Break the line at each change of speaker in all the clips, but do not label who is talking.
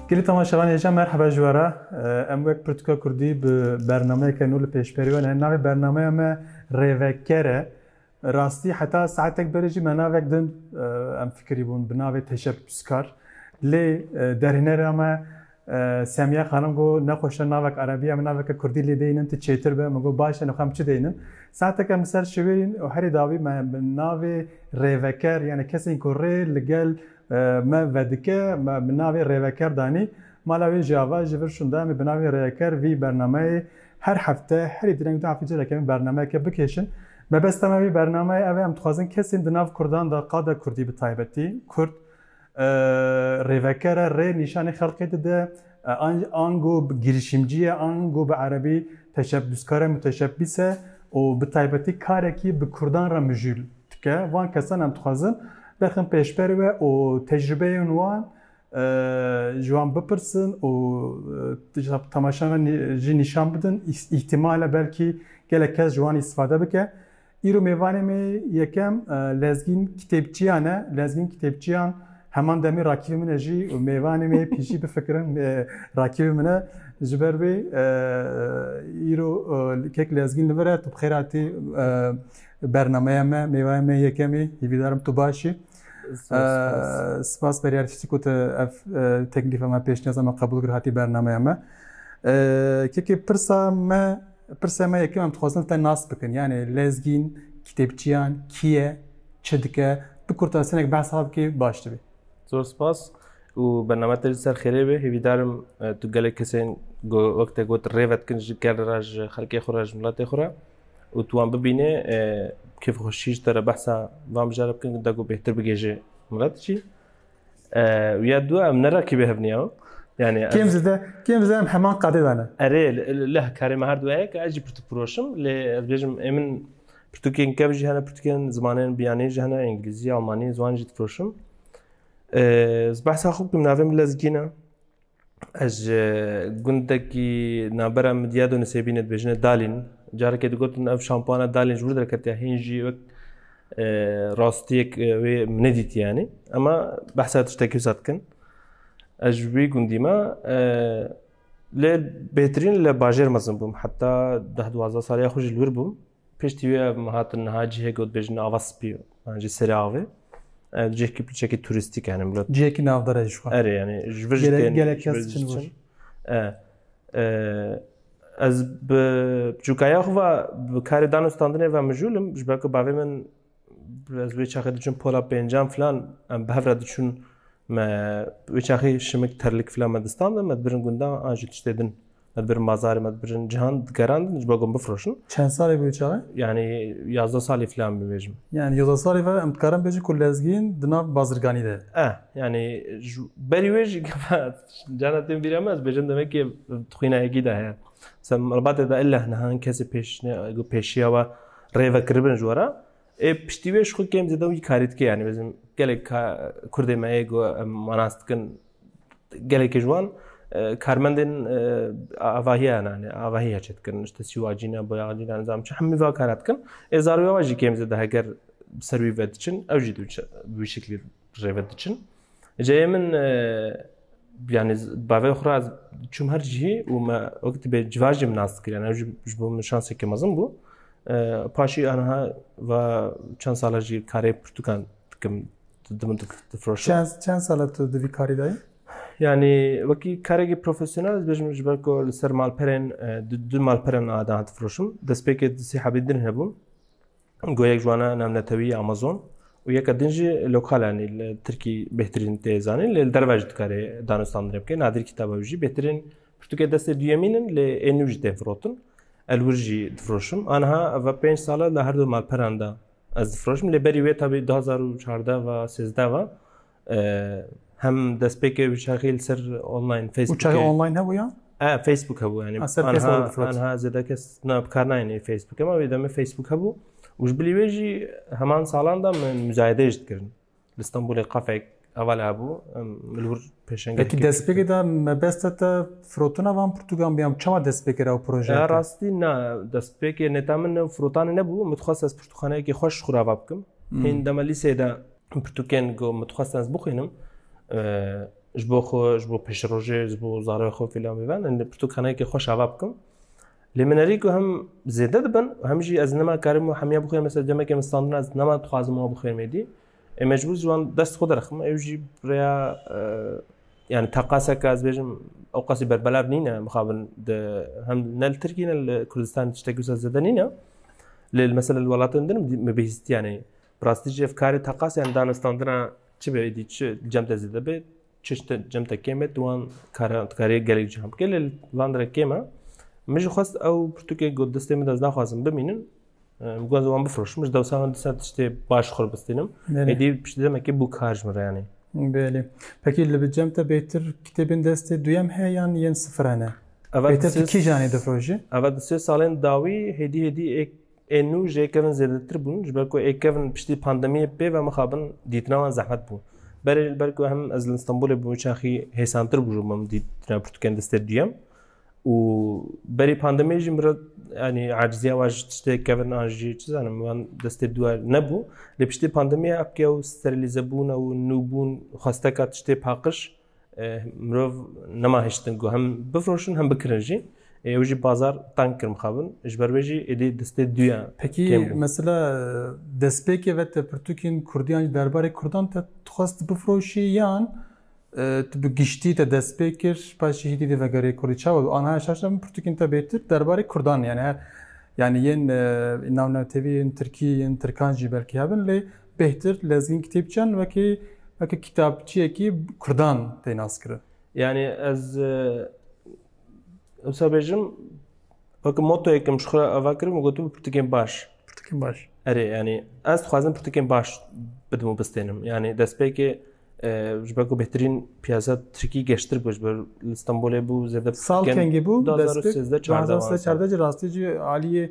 Gelî temaşevanê hêja merheba ji we re. Em wek Pirtûka Kurdî bi bernameyeke nû li pêşberî we ne. Navê bernameya me Rêveker e. Bi rastî heta saetek berê jî me navek din em fikirîbûn bi navê teşebbûskar. Lê derhênera me Semiye xanim got nexweş e navek erebî em naveke kurdî lê deynin tu çêtir be. Min got baş e nixwe em çi deynin. Saetek em li ser şiwêrîn û herî dawî me bi navê rêveker yanî kesên ku rê li gel me vedike me bi navê rêveker danî. Mala wê jî ava ji vir şûnda em ê bi navê rêveker vî bernameyê Her hefte herî direng du heftê careke em bernameyeke bikêşin. Mebesta me vê bernameyê ev e em dixwazin kesên di nav kurdan de qada kurdî bi taybetî kurd rêvekere rê nîşanê xelkê dide ango bi girîşimciye ango bi erebî teşebbûskare muteşebbîs e û bi taybetî karekî bi kurdan re mijûl dike. Van kesan em dixwazin bixin pêşber we û tecrûbeyên wan ji wan bipirsin û temaşa me jî nîşan bidin îhtimale belkî gelek kes ji wan îstifade bike. Îro mêvanê me yekem lezgîn kitêbçiyan e lezgîn kitêbçiyan heman demê rakîbê min e jî û mêvanê me pîjî bifikirin rakîbê min e ji ber vê îro kek lezgîn li vir e tu bi xêratî bernameya me mêvaya me yekemê hîvîdarim tu başî. Spas Beryar Çiçik û ev teklîfa me pêşniyaz me qebûl kir hatî bernameya me. Kekê pirsa me pirsa me yekem em dixwazin te nas bikin yani lezgîn kitêbçiyan kî ye çi dike bi kurtasenek behs hab kê baş dibe. Zor spas û bername te ser xêrê be hêvîdarim tu gelek kesên wek te got rêvet kin ji ger re ji xelkê xwe re ji miletê xwe re. û tu wan bibînê kêf xweşî ji te re behsa van bijara bikin da ku bêhtir bigêjê min re diçî û ya du em nera kî bêhevniya yani kêm zide kêm zide em heman qadê dane erê leh karê me her du heye ez jî pirtûk firoşim lê ez bêjim ê min pirtûkên kev jî hene pirtûkên zimanên biyanê jî hene îngilîzî almanî ziwan jî difiroşim behsa xwe bikim navê min lezgîn e Ez ji gundekî navbera Midya do Nisêbîne dibêjine Dalîn. Carekê digotin ev şampuana Dalîn ji wir derketiya hîn jî wek e, rastiyek e, wê min nedît yanî. Ema behsa tiştekî wisa dikin. Ez ji wî gundî me e, lê bêhtirîn li bajêr mezin bûm. Heta deh duwazdeh saliya xwe ji li wir bûm. Piştî wê ev hatin niha cihê ku dibêjin ava spî yan jî serê avê. Ev cihekî piçekî turîstîk e yani millet. Cihekî navdar e jî xwe. Erê yani ji vir jî tên. Gelek kes çin vir. Ez bi çûkaya xwe ve bi karê danûstandinê ve mijûl im ji ber ku bavê min Ez wê çaxê diçûn pola pêncan filan em bi hev re diçûn me wê çaxê şimik terlik filan me distan de me dibirin gundan an jî tiştê din me dibirin mazarê me dibirin cihan digeran din ji bo gon bifroşin. Çend salê bû wê çaxê? Yanî yazda salî filan bû bêjim. Yanî yazda salî ve em dikarin bêjin ku lezgîn di nav bazirganî de. Eh yanî ji berî wê jî cana tên bîra me ez bêjim demekê xwîna yekî de heye. Sem Rbatê de illa niha hin kesê pêş pêşiya we Rêvekiribin ji we re. Ê piştî wê ji xwe kêm zêde wî karî dike yanî mezin gelek Kurdê me yê ku em manas dikin gelekê ji wan karmendên avahiya ne ne avahiya çê dikin işte sîwacî ne boyacî ne nizam çi hemî va kara dikin. Ê zarûya we jî kêm zêde heger bi ser wî ve diçin ew jî bi wî şeklî rêve diçin. Ceyê min yani bavê xwe ra çûm her cihî û me wek tibê civa jî min nas dikir yani ew ji bo min şansekê mezin bû. Paşî aniha va çend sala jî karê pirtûkan dikim di min difroşe. Çend sala tu di vî karî dayî? Yani wekî karekî profesyonel ez bêjim ji ber ku li ser malperên du malperên adan difroşim. Destpêkê di sî hebî din hebûm. Goyek ji wana navnetewî ya Amazon û yeka din jî lokal anî li Tirkî bêhtirîn tê zanîn lê li derve jî dikarê danûstandinê bike. Nadir kitaba wî jî bêhtirên pirtûkê destê duyemîn in lê ê nû jî tên firotin. El wir jî difiroşim. Aniha va pênc sala li her du malperan de ez difiroşim lê berî wê tabî du hezar û çardeh va sêzdeh va Hem destpêkê wî çaxî li ser online Facebook. Û çaxî online hebû ya? E Facebook hebû yani. Ser Facebook. Anha zêde kes na bi kar nayêne Facebook ama wê demê Facebook hebû. Û ji bilî wê jî heman salan da min müzayedeyê jî dikirin. Li Stenbolê qafek heval hebû li wir pêşengehê. Peki destpêkê de mebeste te firotina van Portugan biyam çawa destpêkê re ew proje? Ya rastî na destpêkê neta min firotanê nebû min dixwest ez pirtûkxaneyekê xweş xurava bikim. Hên dema lîseyê de pirtûkên ku min dixwestin ez bixwînim ji bo xwe ji bo pêşrojê ji bo zarê xwe fîlan bêben pirtûkanekê xweş ava bikim lê min erî ku hem zêde dibin hem jî ez nema karim û hemiya bixwînim mesela demekê min standin ez nema dixwazim wan bixwînim êdî ê mecbûr ji wan dest xwe derxim ew jî rêya yani teqaseka ez bêjim ew qasî berbelav nîne mixabin di hem ne li Tirkî ne li Kurdistan tiştekî wisa zêde nîne lê mesela li welatin din me bihîstiyanê Bi rastî jî ev karê teqasê em danistandina çi be êdî çi cem te zêde be çi ji te cem te kêm e tu wan karan tu karê gelek cihan bikê lê van re kêm e. Min jî xwest ew pirtûkê got destê min de ez naxwazim bimînin bi gozê wan bifroşim ji dewsa min disa tiştê baş xwe bistînim êdî piştî demekê bû kar ji min re yanê. Belê. Pekî li bi cem te bêtir kitêbên destê duyem heye yan yên sifir hene? Bêtir tu kîjanê difrojî? Eva di sê salên dawî hêdî hêdî ê Ê nû jê kevin zêdetir bûn ji ber ku ê kevin piştî pandemiyê pê ve mixabin dîtina wan zehmet bû. Berê li ber ku hem ez li Stenbolê bûm çaxî hêsantir bû ji min em dîtina pirtûkên destê duyem û berî pandemiyê jî min re yanî aciziya wan ji tiştê kevin an jî çi zanim wan destê duwa nebû. Lê piştî pandemiyê apkiya û sterîlîzebûna û nûbûn xwesteka tiştê paqiş Mirov nema hiştin ku hem bifroşin hem bikirin jî. Ew jî bazar tank kir mixabin. Ji ber vê jî êdî destê duya. Pekî mesela destpêkê ve te pirtûkên Kurdî yan jî derbarê Kurdan te dixwest bifroşî yan tu bi giştî te destpê kir paşê hîdî dê vegerê Kurdî çawa bi anaya şaşa min pirtûkên te bêtir derbarê Kurdan yani her yani yên navnetevî yên Tirkî yên Tirkan jî belkî hebin lê Bêhtir lezgîn kitêbçeyan wekî wekî kitapçiyekî kurdan tê naskirin. Yani ez ewsa bêjim wekî motoyekim ji xwe re ava kirim û gotibû pirtûkên baş. Pirtûkên baş. Erê yani ez dixwazim pirtûkên baş bidim û bistênim. Yani destpêkê ji ber ku bêhtirîn piyasa Tirkî geştir bû ji ber li Stenbolê bû zêde Sal kengê bû destpêk 2013 rastî cî aliyê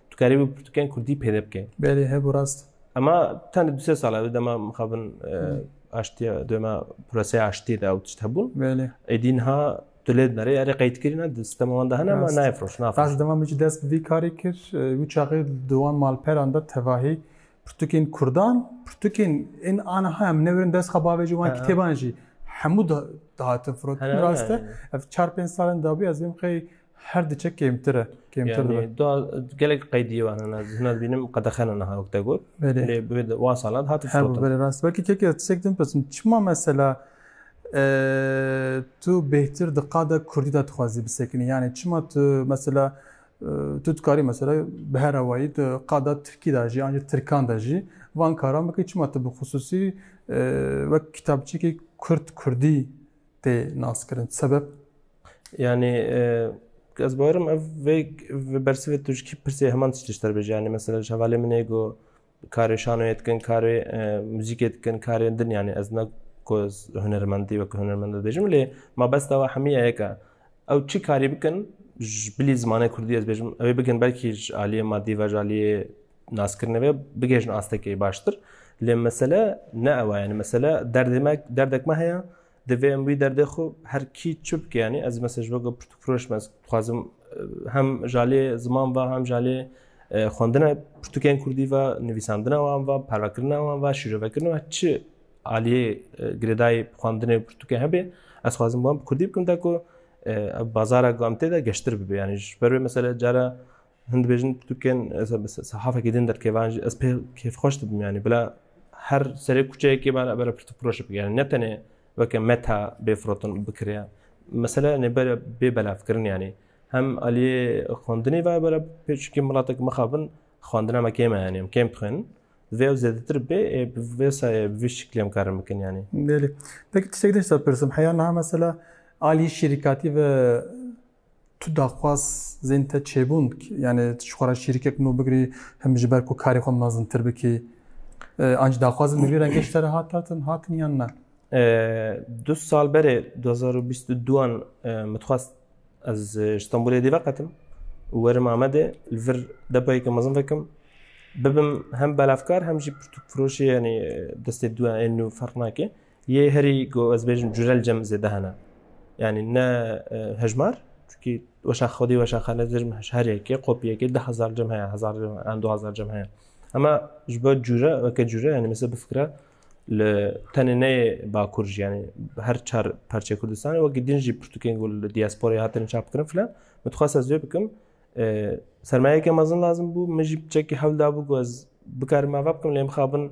Tu karî wî pirtûkên kurdî pêde bike. Belê hebû rast. Ema tenê du sê sal ev dema mixabin aştiya dema proseya aştiyê de ew tişt hebûn. Belê. Êdî niha tu lê dinarê erê qeydkirîna di sistema wan de hene ema nayê firoş nafroş. Ez dema min jî dest bi vî karî kir wî çaxê di wan malperan de tevahî Pirtûkên Kurdan, pirtûkên ên aniha em newerin dest xwe bavê ji wan kitêban jî hemû dihatin firotin rast e. Ev çar pênc salên dabû ez bêm xey her diçe kêmtir e. Kêmtir dibe. Gelek qeydiyê wan hena hena dibînim qedexena niha wek te got. Lê wan salan hatin firotin. Belê rast belkî keke tişek din pirsin çima mesela tu bêhtir di qada Kurdî de dixwazî bisekinî yanê çima tu mesela Tu dikarî mesela bi her awayî tu qada tirkî de jî an jî tirkan de jî van karan bikî çima tu bi xisûsî wek kitapçikî kurd kurdî tê naskirin sebeb? Yanî ez bawerim ev vê bersivê tu ji kî pirsê heman tişt li ser bêje yanî mesela ji hevalê min ê got Karê şanoyê dikin, karê muzîkê dikin, karên din yanî ez ne ku hunermendî wek hunermend dibêjim lê ma bes dawa hemî ye yeka. Ew çi karî bikin ji bilî zimanê Kurdî ez bêjim ew ê bikin belkî ji aliyê madî ve ji aliyê naskirinê ve bigêjin astekê baştir. Lê mesele ne ew e yanî mesele derdê me derdek me heye Divê em wî derdê xwe her kî çi bike yanî ez mesela ji weke pirtûkfiroş me dixwazim hem jalê ziman ve hem jalê xwendina pirtûkên kurdî ve nivîsandina wan ve parvekirina wan ve şîrovekirina ve çi aliyê girêdayê xwendinê pirtûkê hebê ez xwazim wan bi kurdî bikim te ku bazara ku em tê de geştir bibe yanî ji ber wê mesela cara Hin dibêjin pirtûkên ez bi sehafekî din derkevayên jî ez pê kêfxweş dibim yanî bila her serê kuçeyekê bala bera pirtûk firoşê bike yanî ne tenê weke meta bê firotin bikiriya mesele nê bere bê belavkirin yanî hem aliyê xwendinê ve bera pê çikê milatek mixabin xwendina me kêm e yanî em kêm dixwênin vê ew zêdetir bê ê bi vê sayê bi vê şiklê em karin bikin yanî. Belê. Peki tiştek din ji te pirsim heya niha mesela aliyê şîrikatî ve Tu daxwaz zên te çêbûn yanî tu ji xwe re şîrikek nû bigirî him ji ber ku karê xwe mezintir bikî. Anc daxwazin li vî rengê ji te re hatatin hatin yan ne? Du sal berê 2022an min dixwast ez ji Stenbolê dî veqetim û werim Amedê li vir depayeke mezin vekim. Bibim hem belavkar hem jî pirtûkfiroşê yanî destê dû ên nû ferq nake. Yê herî ku ez bêjim curel cem zêde hene. Yanî ne hejmar çunkî weşan xwedî weşan xane dirm herêkê qopiyekê de hezar cem heye hezar an du hezar cem heye. Ema ji bo cure weke cure yanî mesela bifikre li tenê neyê bakur jî yanî her çar parçeyê Kurdistanê wekî din jî pirtûkên ku li diasporayê hatine çap kirin filan min dixwest ez wê bikim sermayeke mezin lazim bû min jî çekî hewl dabû ku ez bikarim ava bikim lê mixabin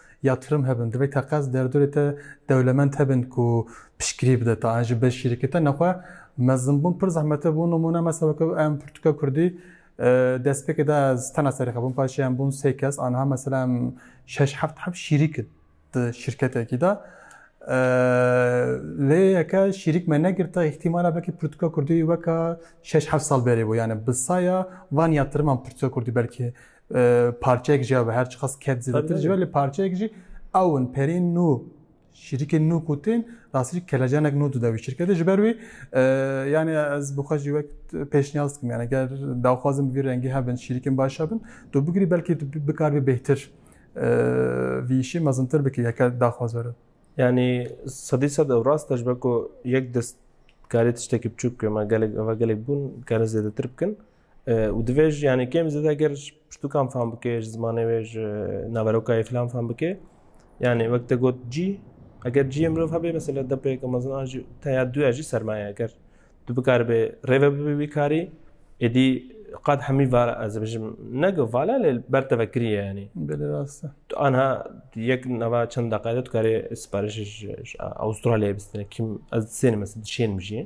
Yatırım hebin, divê teqez derdorê te dewlemend hebin ku piştgirî bide taen ji beşîrikê te nexwe mezimbûn pir zehmet e. Bo nimûne mesa weke em pirtûka kurdî destpêkê de ez tena serê xwe bûm paşê em bûn sê kes aniha mesela em şeş heft heft şîrîk in di şîrketekî de lê yeke şîrîk me negirte îhtîmala belkî pirtûka kurdî weka şeş heft sal berê bû yani bi saya van yatiriman pirtûka kurdî belkî parçeyek jî ya be her çiqas ket zêdetir jî be lê parçeyek jî ew in perîn nû şîrikên nû ku tên rastî kelecanek nû tu dewî şirketê ji ber wî yanê ez bi xwe jî wek pêşniyaz dikim yani ger daxwazin bi vî rengî hebin şîrikên baş hebin tu bigirî belkî tu bikar bê bêhtir vî îşî mezintir bikî heke daxwaz were yani sedî sed ew rast e ji ber ku yek dest karê tiştekî biçûk bike me gelek eva gelek bûn karin zêdetir bikin û divê ji yanê kêm zêde ger ji pirtûkan fam bike ji zimanê wê ji naverokayê filan fam bike yanê wek te got cî eger ciyê mirov hebe mesela depêke mezin an jî teya duya jî sermaye ger tu bikaribê rêve bibî wî karî êdî qad hemî var ez bijim nege vala lê ber teve kiriye yanî belê rast e tu anha yek nava çend deqede tu karê siparişê ji Avustralyayê bistine kîm ez sênim ez dişênim jiyê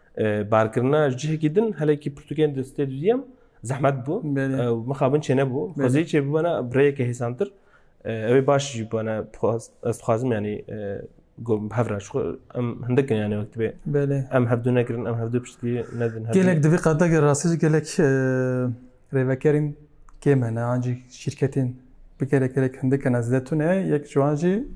Barkirina ji cihekî din helekî pirtûkên di stê duyem zehmet bû mixabin çê nebû xwezî çê bibana birêyeke hêsantir ew ê baş jî bana ez dixwazim yanî hevra em hindikin yanî wektibê em hevdû nekirin em hevdû piştî nedin gelek divê qadegê rastî jî gelek rêvekerên kêm hene an jî şîrketên bi gelek gelek hindikin ez de tune yek ji wan jî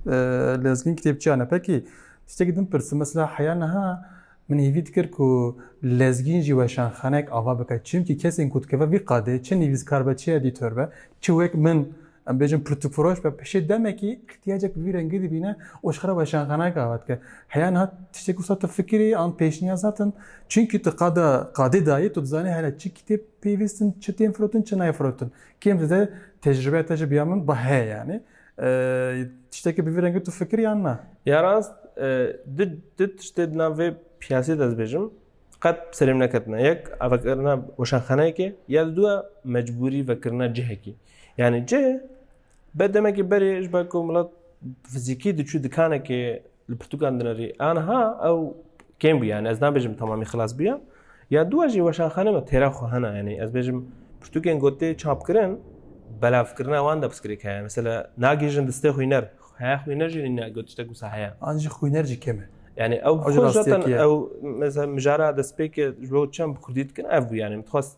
lezgîn kitêbçiyan e pekî tiştekî din pirsim mesela heya niha Min hêvî dikir ku lezgîn jî weşanxanek ava bike çimkî kesên ku dikeve vî qadê çi nivîskar be çi edîtor be çi wek min em bêjin pirtûkfiroş be pişê demekî îhtiyacek bi vî rengî dibîne û jixwe re weşanxanek ava dike. Heya niha tiştê ku wisa tu fikirî an pêşniyaz hatin çimkî tu qada qadê dayî tu dizanî hele çi kitêb pêvîstin çi tên firotin çi nayê firotin kêm zêde tecrîbeya te ji biya min bi heye yanî Tiştekî bi vî rengî tu fikir yan na? Ya rast du tiştê di nav vê piyasê de ez bêjim qet serê min neketine. Yek vekirina weşanxaneyekê ya di duwe mecbûrî vekirina cihekî. Yani cih be demekî berê ji ber ku milat fizîkî diçû dikanekê Li pirtûkan dinirî. Anha ew kêm bû yani ez nabêjim tamamî xilas bûye. Ya dûa jî weşanxane me têra xwe hena yani ez bêjim pirtûkên gotê çapkirin belavkirina wan de piskirêk heye. Mesela nagêjin distê xwîner. Heye xwîner jî ne got tiştek wisa heye. An jî xwîner jî kêm e. Yani ew zaten ew mesela mijara destpêk ji bo çem bi kurdî dikin ev bû yani min dixwest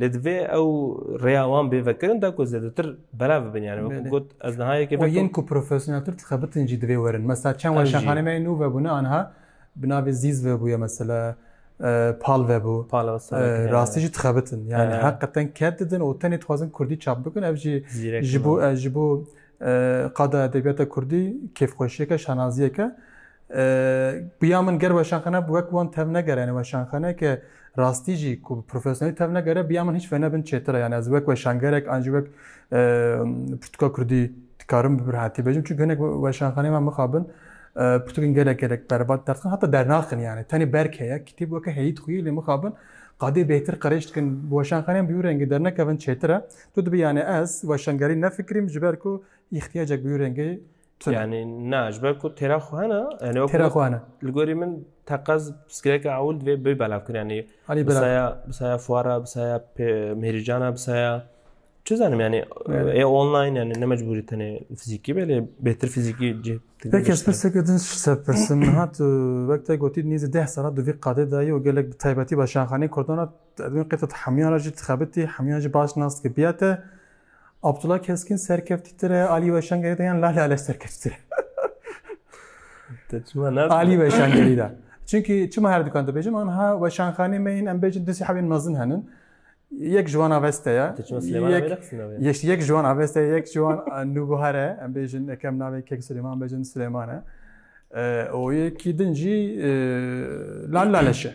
Lê divê ew rêya wan bê vekirin da ku zêdetir belav bibin yani wekî Belê. got ez niha yekê Û vekim. yên ku profesyoneltir dixebitin jî divê werin. Mesela çend Ev jî. weşanxaneyê me yên nû vebûne anha bi navê Zîz vebûye mesela e, Pal vebû. Pala E, sereke heye. rastî jî dixebitin. Yani He. heqeten ket didin û tenê dixwazin kurdî çap bikin. Ev jî Zîrek ji bo e, ji bo Qada edebiyata kurdî kêfxweşiyeke, şanaziyeke bi ya min ger weşanxane bi wek wan tev negere yani weşanxaneyeke rastî jî ku bi profesyonelî tev negere bi ya min hiç venebin çêtir e. Yani ez wek weşangerek an jî wek pirtûka kurdî dikarim bi birhatî bêjim çunku hinek weşanxaneyê me mixabin pirtûkên gelek gelek berbat derdixin heta dernaxin yani tenê berk heye kitêb weke heyî dixuyî lê mixabin qadê bêhtir qirêj dikin bi weşanxaneyên bi wî rengî dernekevin çêtir e. Tu dibî yanî ez weşangerî nefikrîm ji ber ku îxtiyacek bi wî rengê Yani na ji ber ku têra xwe hene yani wek Têra xwe hene. li gorî min teqez piskireke ewil divê bê belavkirin yani Alî belav. bisaya bisaya fuara bisaya pê- mêrîcana bisaya çi zanim yani e online yani ne mecburî tenê fizîkî belê bêtir fizîkî cih Peki ez pirseke din ji te pirsim niha tu wek te gotî nîzî deh sala di vî qadê de yî û gelek bi taybetî weşanxaneyên Kurdan re Edwin qêteta hemûyan re jî dixebitî, hemûyan jî baş nas dike biya te. Abdullah Keskin serkeftîtir e, Alî Weşangerî de yan Lale Aleş serkeftîtir e. Te çima ne? Alî Weşangerî de. Çünkü çima her dukan dibêjim an ha weşanxanê me yên em bêjin du sîhebên mezin henin. Yek ji wan aveste ye. Te çima Silêman Yek- avêre qisina wê? Yeş yek ji wan aveste ye, yek ji wan nûbihar e. Em bêjin ekem navê Kek Silêman em bêjin Silêman e. Ee, O yekî din jî e, Lal Laleş e.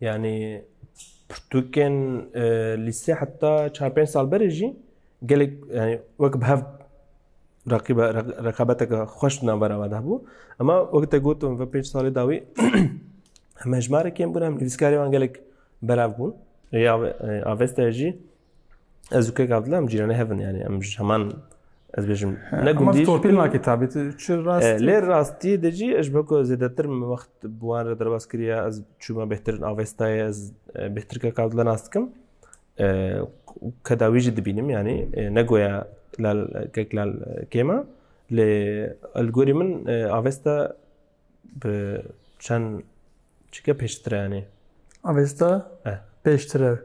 Yanî pirtûkên e, lîsê heta çar pênc sal berê jî gelek yanî wek bi hev rakîbe rekabeteke xweş di navbera me de hebû. Ema wek te gotum ve pênc salê dawî hemejmarekên bûn hem nivîskarê wan gelek belav bûn. Ya e, avesta jî Ez û kek Abdullah em cîranê hevin yani em ji heman ez bêjim ne gundî ji pêna kitabê çi rast lê rastî de jî ez be ku zêdetir min wext bi wan re derbas kiriye ez çûma bêhtir avestayê ez bêhtir kek Abdullah nas dikim kedawî jî dibînim yanî ne goya lal kek lal kêma lê li gorî min avesta Bi çend çike pêştire yanê? Avêsta Eh. pêştire.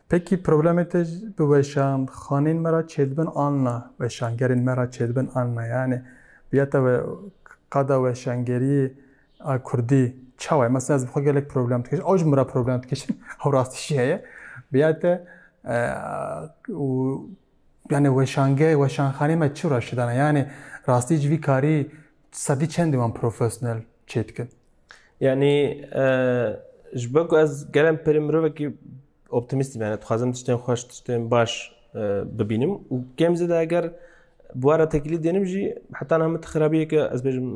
Pekî problemê te ji- bi weşan xanên me ra çêdibin an na, weşangerên me ra çêdibin an na yanê ya te we qada weşangeriyê a kurdî çawa ye? Mesela ez bi xwe gelek problem dikişim, ew ji min ra problem dikişin, ew rastî jî heye. Bi ya te eh, û yanê weşange weşanxanê me çi ra şidana? Yanê rastî ji vî karî Sedî çendê wan profesyonel çê dikin? Yanî ji ber ku ez gelem perê mirovekî optimîstî me dixwazim tiştên xweş tiştên baş bibînim û kêm zêde eger bi wara tekîlî dênim jî heta niha min ti xirabiyeke ez bêjim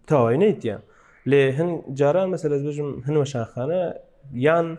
tawayî neytiye lê hin caran mesela ez bêjim hin weşanxane yan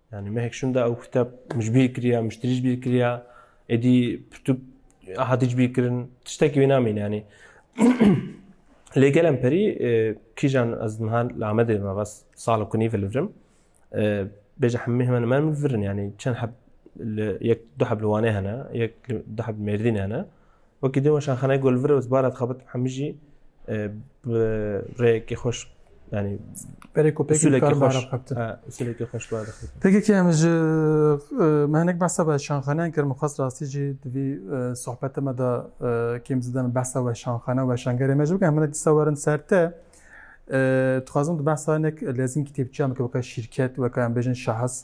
Yani mehek şunda ew kitap min ji bîr kiriya, min ji tirî ji bîr kiriya, êdî pirtûk hatî ji bîr kirin, tiştekî wê namîne yanî. Lê gelem perî kîjan ez niha li Amedê me bas sala kunî vilivrim. Bêje hemî hemen hemen virin yanî çend heb li yek du heb li Wanê hene, yek du heb li Mêrdînê hene. Wekî dûma şanxaneyê Golvir û Zbara dixebitim hemû jî bi rêyekî xweş yanî berê kopekî kar xweş usulekî xweş bi dixebitim. Peki ki em ji me hinek behsa ve şanxaneyan kir min xwest rastî jî di vî sohbetê me de kêm zêde min behsa we şanxane we şangerê me jî bikim. Em hinek dîsa werin ser te. Dixwazim di behsa hinek lezîn kitêbçiyan bikim weke şîrket weke em bêjin şahs.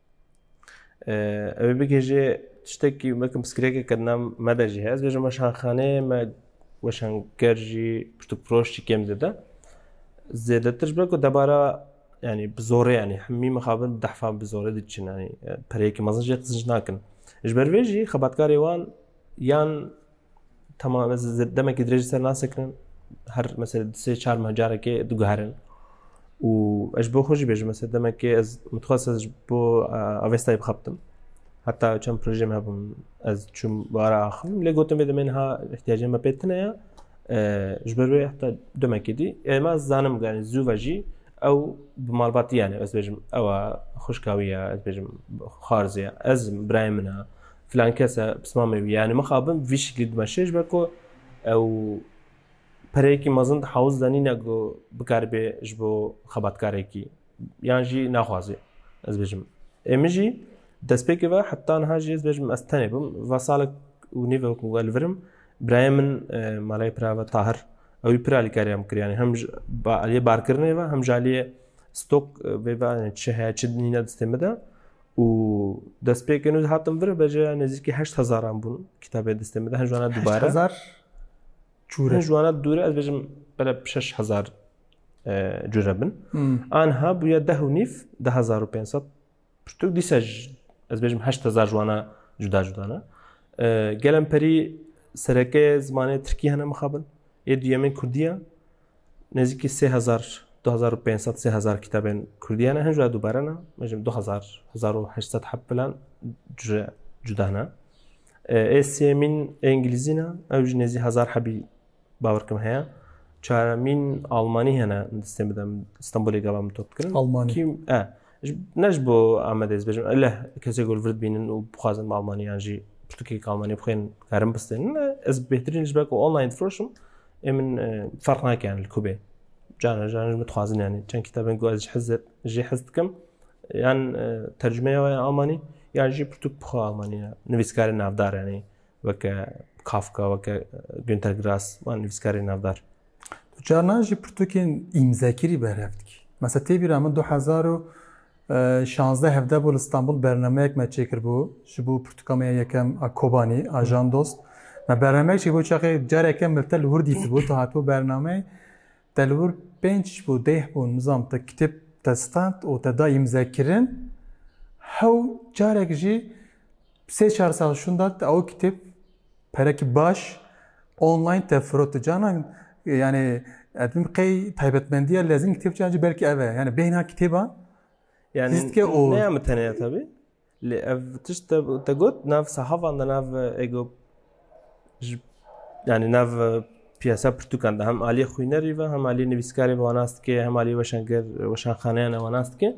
Ew bigê jê tiştekî weke piskirekê kirina me de jî heye. Ez bêjim weşanxaneyê me weşanker jî pişt û proş jî kêm dide. Zêdetir ji ber ku debara yanî bi zorê yanî hemî mixabin dehfa bi zorê diçin yanî pereyekî mezin jê qizin nakin. Ji ber vê jî xebatkarê wan yan Tamam ez demekî dirêj ser nasekirin her mesela sê çar meh carekê diguherin û ez ji bo xwe jî bêjim mesela demekê ez mixwest ez ji bo avestayê bixebtim heta çend projeyê me hebûn ez çûm bara axivîm lê gotin vê demên ha ihtiyacê me pê tune ye ji ber wê heta demekê dî êma zanim ganî zû ve jî ew bi malbatî yanê ez bêjim ewa xuşka wî ye ez bêjim xarzê ez birayê min e filan kes e pisma me wî yanî mixabin vî şiklî dima şêj be ku ew pereyekî mezin di hewiz de nîne ku bikaribê ji bo xebatkarekî yan jî naxwazê ez bêjim ê min jî destpêkê ve heta niha jî ez bêjim ez tenê bim va salek û nîve ku ez li vir im birayê min malê pira ve tahir ewî pir alîkariya min kir yanî hem ji aliyê barkirinê ve hem ji aliyê stok vê ve çi heye çi nîne destê min de û destpêkên wî hatin vir be jê nêzîkî heşt hezaran bûn kitabê distê min de hin jwana dubare hezar çûre jwana dûre ez bêjim bere şeş hezar cure bin anha bûye deh û nîv de hezar û pênset pirtûk dîse ez bêjim heşt hezar jwana cuda cudana gelem perî sereke zimanê tirkî hene mixabin ê duyemên kurdiya Nêzîkî sê hezar, du hezar û pênc sed, sê hezar kitabên Kurdî hene, hin ji we dubare ne, mecim du hezar, hezar û heşt sed heb filan ji cuda ne. Ê sêmîn ê Îngilîzî ne, ew jî nêzî hezar hebî bawer kim heye. Çaremîn Almanî hene, destên bidem Stenbolê gava min top dikirin. Almanî. Kî, e, Ne ji bo Amedê ez bêjim leh kesê ku li vir dibînin û bixwazin bi Almanî yan jî pirtûkek Almanî bixwên karin bistênin ez bêhtirîn ji ber ku online difiroşim ê min ferq nakirin li kubê cana jan ji min dixwazin yanî çend kitabên ku ez ji hizir jê hez dikim yan tercümeya waya Almanî yan jî pirtûk bixwe Almanî nivîskarê navdar yanî weke Kafka weke Günter Grass wan nivîskarê navdar Tu carnan jî pirtûkên îmzekirî berhev dikî. Mesa tê bîra min du hezar û şazdeh hevdeh bû li Stenbol bernameyek me çêkiribû ji bo pirtûkameya yekem a Kobanî a Jan Dost. Me bernameyek çêkiribû çaxê careke min li tel hûr dîtibû tu hatibû bernameyê te li wir pênc bû deh bû nizam te kitêb te stand û te da îmzekirin hew carek jî sê çar sal şûnda te ew kitêb Perek baş online te firotu canan yani edin qey taybetmendiya lezim kitap cancı belki eve yani beyna kitaba yani zitke o ne yamı teneye tabi li ev tiş te, te got nav sahavan da nav ego yani nav piyasa pirtukan da hem aliye xuynerî ve hem aliye nivîskarî ve wanastike hem aliye weşanger weşanxaneyan e wanastike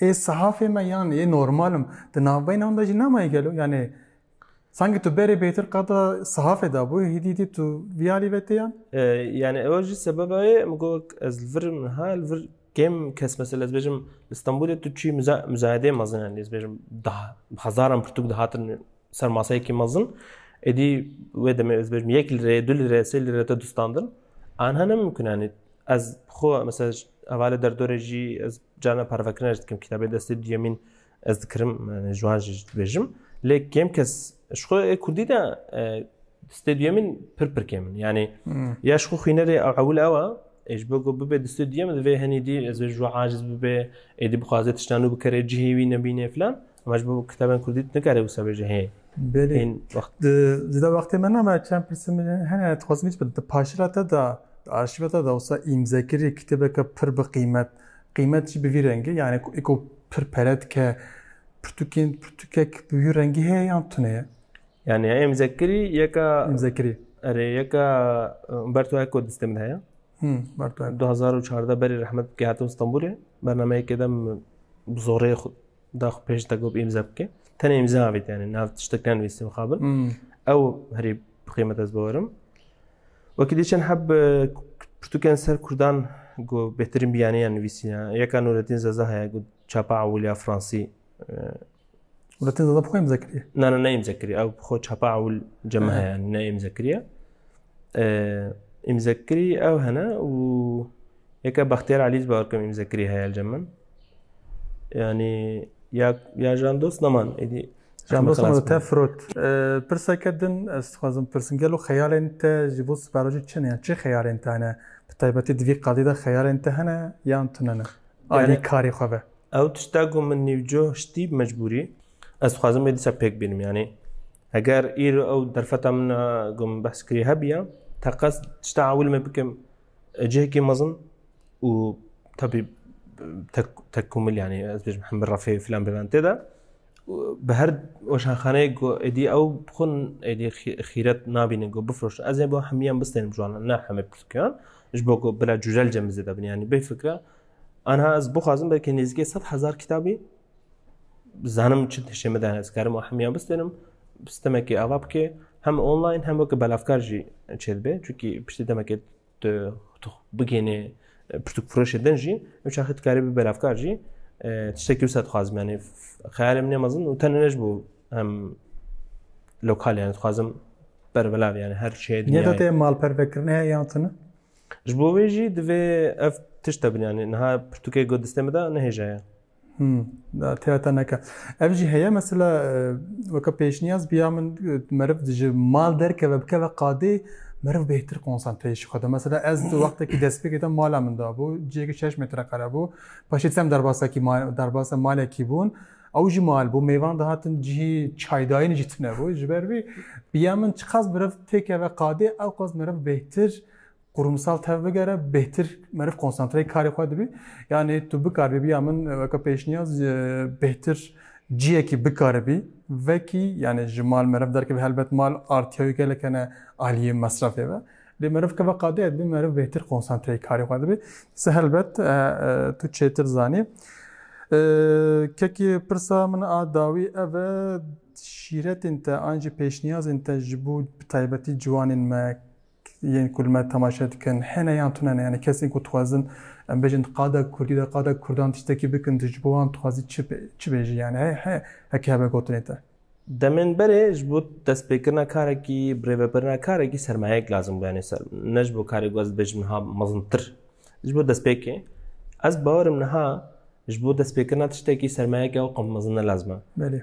Ê sehafê me yan ê normal im di navbeyna wan de jî nemaye gelo? Yanê sankî tu berê bêtir qada sehafê de bû hîdî hîdî tu vî alî ve tê yan? Yanê ew jî sebeba ye min got wek ez li vir im niha li vir kêm kes mesela ez bêjim li Stenbolê tu çûyî muzayedeyê mezin e ez bêjim di hezaran pirtûk dihatin ser maseyekî mezin êdî wê demê ez bêjim yek lîreyê du lîreyê sê lîreyê te dustandin an hene mimkun e ez xwe mesela Ava li derdorê jî ez carna parvekirina ji dikim kitabê destê duyemîn ez dikirim ji wan jî ji dibêjim lê kêm kes ji xwe ê kurdî de destê duyemîn pir pir kêm in yanî ya ji xwe xwînerê ewil ew e ê ji bo ku bibê destê duyem divê henî dî ez ê ji wan aciz bibê êdî bixwaze tişta nû bikere cihê wî nebînê filan Ama ji bo kitabên kurdî tu nikarî wisa bêjî hê. Belê. Hên wext. Di di da wextê me name çend pirsê min hene hene dixwazim bît di paşira te da di arşîva te da wisa îmzekirî kitêbeke pir bi qîmet. Qîmet jî bi vî rengî yanî ku êko pir pere dike pirtûkên pirtûkek bi wî rengî heye yan tune ye. Yani ya îmzekirî yeka Îmzekirî. erê yeka e, ber tu eko distê min heye. Him, ber tu hek. 2014 berî rehmet bike hatim Stenbolê. Bernameyekê dem bi zorê xwe daxu pêş de gop îmza bike tenê îmza avêt yani nav tiştek nenivîstî mixabin ew herî bixêmet ez bawerim wekî dîçen heb pirtûkên ser kurdan got bêhtirîn biyaniya nivîsîna yeka Nuretîn Zeza heye got çapa ewiliya Fransî Nuretîn Zeza bixwe îmza kiriye na na neyîmza kiriye ew bixwe çapa ewil ceme heye yani neyîmza kiriye îmza kirî ew hene û Yeke Bextiyar Elî ji Bawerkam Îmze kirî heye elcem min. Yanî ya ya jandos neman êdî Jandosan te firot. Pirseke din ez dixwazim pirsin gelo xeyalên te ji bo siberojî çi ne yan çi xeyalên te hene bi taybetî di vî qadê de xeyalên te hene yan tune ne alî karê xwe ve. Ew tişta ku min nîvcoh ştî bi mecbûrî ez dixwazim vê dîsa pêk bînim yanî eger îro ew derfeta min ku min behs kirî hebiya teqez tişta ewil me bikim Cihekê mezin û tabi tekkomil yani ez bêjim hemir rafê filan bêven tê de bi her weşanxaneyê ku êdî ew xun êdî xîret nabînin ku bifroşin ez ê bo hemiyan bistênim jiwanan ne hemê piskiyan ji bo ku bila cujel cemizê de bin yani bê fikra anha ez bixwazim belkê nêzîkê sed hezar kitabî Zanim çi tişê min dane ez karim û hemiyan bistênim sistemekê ava bike hem online hem weke belavkar jî çê dibe çunkî piştî demekê tu bigênê pirtûk firoşê din jî ew çaxê tu karî bî belavkar jî tiştekî wisa dixwazim yanî xeyalê min mezin û tenê ne ji bo hem lokal yanî dixwazim bervelav yanî her şeye dinya te malpervekirine yan tune ji bo wê jî divê ev tişte bin yanî niha pirtûkê got distê min de nehêjaya Têya te neke. Ev jî heye mesela weke pêşniyaz biya min meriv ji mal derkeve bikeve qadê meriv bêhtir konsantreyê ji xwe de. Mesela ez di wextekî destpêkê de mala min dabû, cihêkî şeş metre qere bû. Paşê sem derbasekî derbasa malekî bûn. Ew jî mal bû, mêvan dihatin cihî çaydayînê jî tune bû. Ji ber vî biya min çiqas meriv têkeve qadê ew qas meriv bêhtir Ku rûmsal tev bigere bêhtir meriv konsantreyê karê xwe dibî. Yanî tu bikaribî bi ya min weke pêşniyaz bêhtir ciyekî bikaribî vekî yanî ji mal meriv derkevî helbet mal artiya wî gelek hene aliyê mesrefê ve. Lê meriv keve qadeye dibî meriv bêhtir konsantreyê karê xwe dibî. Ti helbet tu çêtir zanî. Kekê pirsa min a dawî ev e şîretên te an jî pêşniyazên te ji bo bi taybetî ciwanên me Yên ku li me temaşe dikin hene yan tune ne. Yanî kesên ku dixwazin em bêjin qada kurdî de qada kurdan tiştekî bikin tu ji bo wan dixwazî çi çi bêjî yanî he he heke hebe gotinê te. Demên berê ji bo destpêkirina karekî, birêvebirina karekî sermayeyek lazim bû yanî ser ne ji bo karê ku ez dibêjim niha mezintir ji bo destpêkê. Ez bawerim niha ji bo destpêkirina tiştekî sermayeyeke ew qam mezin ne lazim e. Belê.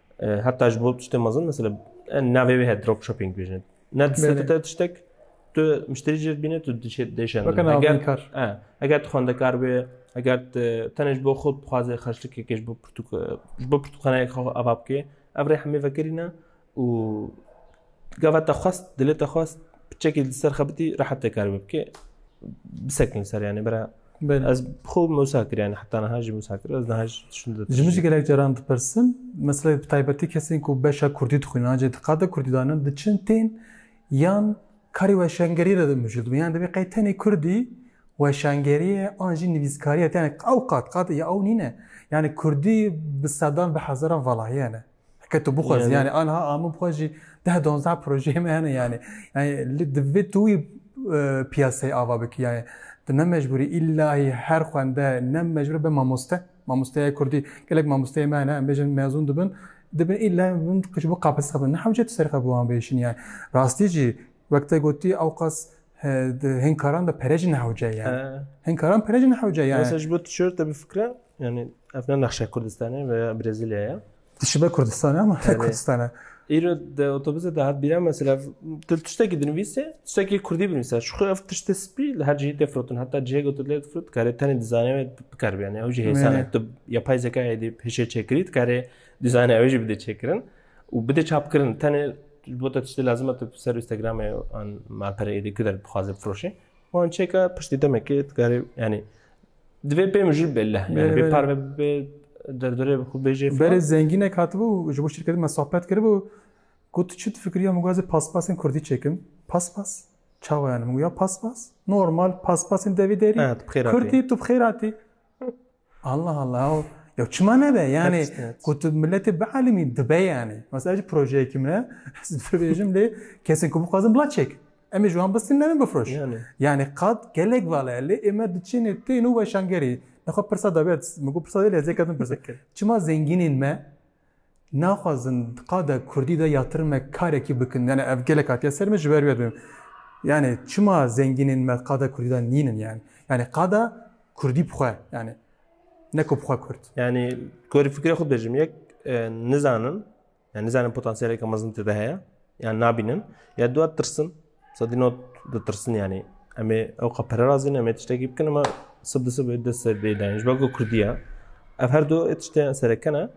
Heta ji bo tiştê mezin mesela navê wê heye drop shopping dibêjin. Ne distê te tiştek tu müşterî jê dibîne tu dişê dêşen. Eger tu xwendekar bê eger tenê ji bo xwe bixwazê xerçlikekê ji bo ji bo pirtûkxaneyek xwe ava bikê ev rê hemê vekirîne û Gava te xwest, dilê te xwest, piçekî li ser xebitî rehet te kar bibkê. Bisekin ser yani bira. Bel. Ez xo musa kir yani heta niha jî musa kir. Ez niha jî şun de. Ji min jî gelek caran dipirsin. Mesela bi taybetî kesên ku beşa Kurdî dixwînin an cê diqade Kurdî danin diçin tên yan karê weşangeriyê de dimijû dibin. Yani divê qey tenê Kurdî weşangeriye an jî nivîskariye te yani ew qat qat ya ew nîne. Yani Kurdî bi sedan bi hezaran valahiyane. Heke tu bixwazî yani anha a min bixwe jî deh donzdeh projeyê me hene yani. Yani li divê tu wî e, piyaseyê ava bikî yani. Tu ne mecbûrî îllahî her xwende ne mecbûr be mamoste. Mamosteya Kurdî gelek mamosteyê me hene em bêjin mezûn dibin dibin îlla bin ji bo qapis xebin. Ne hewce tu serê xwe bi wan bêşin yani. Rastî jî wek te gotî ew qas e, di hinkaran de pere jî nehewce yani. Hinkaran pere jî nehewce yani. Mesela ji bo tişörte bifikre Yani ev ne nexşe Kurdistanê ve Brezilyaya ye. Dişibe Kurdistanê ama ne Kurdistanê. Îro de otobüse de hat bîra mesela til tiştekî dinivîse tiştekî Kurdî binivîse. Şu xwe ev tiştê spî li her cihê tefrotin heta cihê gotu lê difrot dikarê tenê dizanê ve bikar bê. Yani ew jî hêsane tu yapay zekayê dê hêşê çêkirî dikarê dizanê ew jî bidê çêkirin û bidê çapkirin tenê ji bo te tiştê lazima tu ser Instagramê an malpereyê dê ku der bixwaze bifroşê. Wan çêka piştî demekê dikarê yani Divê pê min jî bêleh be. Yani bê par ve bê derdorê bi xwe bêjê. Berê zengînek hatibû ji bo şirketin me sohbet kiribû. Ku tu çi difikirî min gazê paspasên kurdî çêkim. Paspas? Çawa yani? Min goya paspas? Normal paspasên devî derî. Kurdî tu bi xêr hatî. Allah Allah. Ya çima nebe yani ku tu milletê bielîmî dibe yani. Mesela ji projeyekî min e divêjim lê kesên ku bixwazin bila çêk. Em ê ji wan bistînin em ê bifiroş. Yanê qad gelek vala ye lê ême diçinê tên û weşangerî. Nexwe pirsa dabe min got pirsa dêlê zê ketim pirsa. Çima zengînên me naxwazin qada Kurdî de ya tirme karekî bikin yani ev gelek hatiye ser me ji ber wê yani çima zengînên me qada Kurdî de nînin yani. Yani qada Kurdî bixwe yani neko bixwe Kurd. Yani gorî fikre xwe dijim yek nizanin Yani nizanin potansiyeleke mezin tê de heye. Yani nabînin. Ya dua tirsin. Sedî not ditirsin yani. Em ê ew qe pere razîn em ê tiştekî bikin ama sib di sib ê dest ser dê dayin. Ji ber ku Kurdî ye. Ev her du ê tişteyan serekene.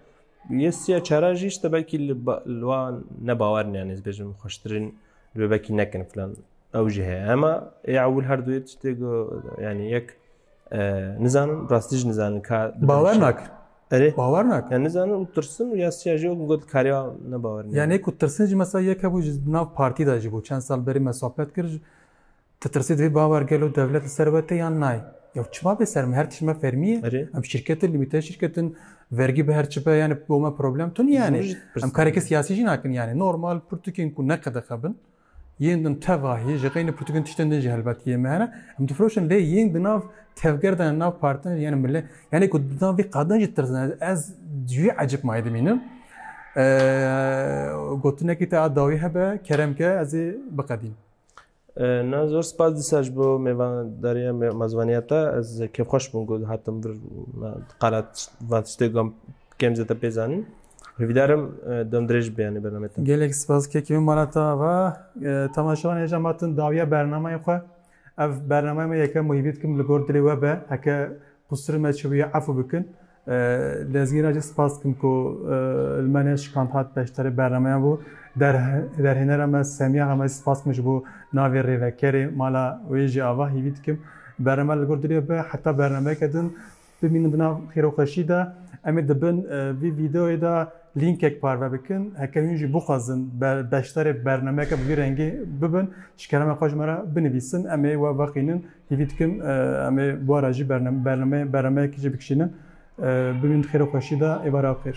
Yê siya çara jî işte belkî li wan ne bawerin yani ez bêjim xweştirin li belkî nekin filan. Ew jî heye. Ema ê ewil her du ê tiştê yani yek Nizanin rastî jî nizanin ka bawer nakin. Erê bawer nakin. Yani nizanin û tirsin û ya siya jî wek got kariya ne bawer nakin. Yani ku tirsin jî mesela yek hebû ji nav partî de jî bû çend sal berî me sohbet kir tu tirsî divê bawer gelo dewlet li ser we te yan nayê. Yew çima bê ser me her tişt me fermî ye. Erê. Em şirketin lîmîte şirketin vergî bi her çi be yani bo me problem tun yani. Em karekî siyasî jî nakin yani normal pirtûkên ku ne qedexebin. Yên din teva heye ji xeynî pirtûkên tiştên din jî helbet yê me hene. Em difiroşin lê yên di nav tevger de nav partin yani millet yani ku di nav vî qadin jî tirzin ez ji wî ecib mayê dimînim. Gotinekî te a dawî hebe kerem ke ez ê biqedîm. Na zor spas dîsa ji bo mêvandariya mazvaniya te ez kêfxweş bûm ku hatim vir qala van tiştê gam Kem zêde pê zanîn. Hîvdar im dem dirêj be yanî bername te. Gelek spas kekî min mala te ava. Temaşewan hêja ma tim dawiya bernameyê xwe. Ev bernameya me yeke muhîmî dikim li gor dilê we be. Heke qusirê me çibûye efû bikin. Lezgîn re jî spas dikim ku li me neşikand hat beşdarê bernameyan bû. Derhênera me Semiya Xemezî spas dikim ji bo navê rêvekerê mala wê jî ava hîvî dikim. Bername li gor dilê we be heta bernameyeke din Bimînin di nav xêroxweşî de. Em ê di bin vî vîdeoyê de lînkek parve bikin. Heke hûn jî bixwazin beşdarê bernameyeke bi vî rengî bibin, ji kelamê xwe ji me re binivîsin. Em ê we vexînin. Hîvî dikim em ê bora jî bernameyekî jî bikişînin. Bimînin di xêroxweşî de. Êvara xêr.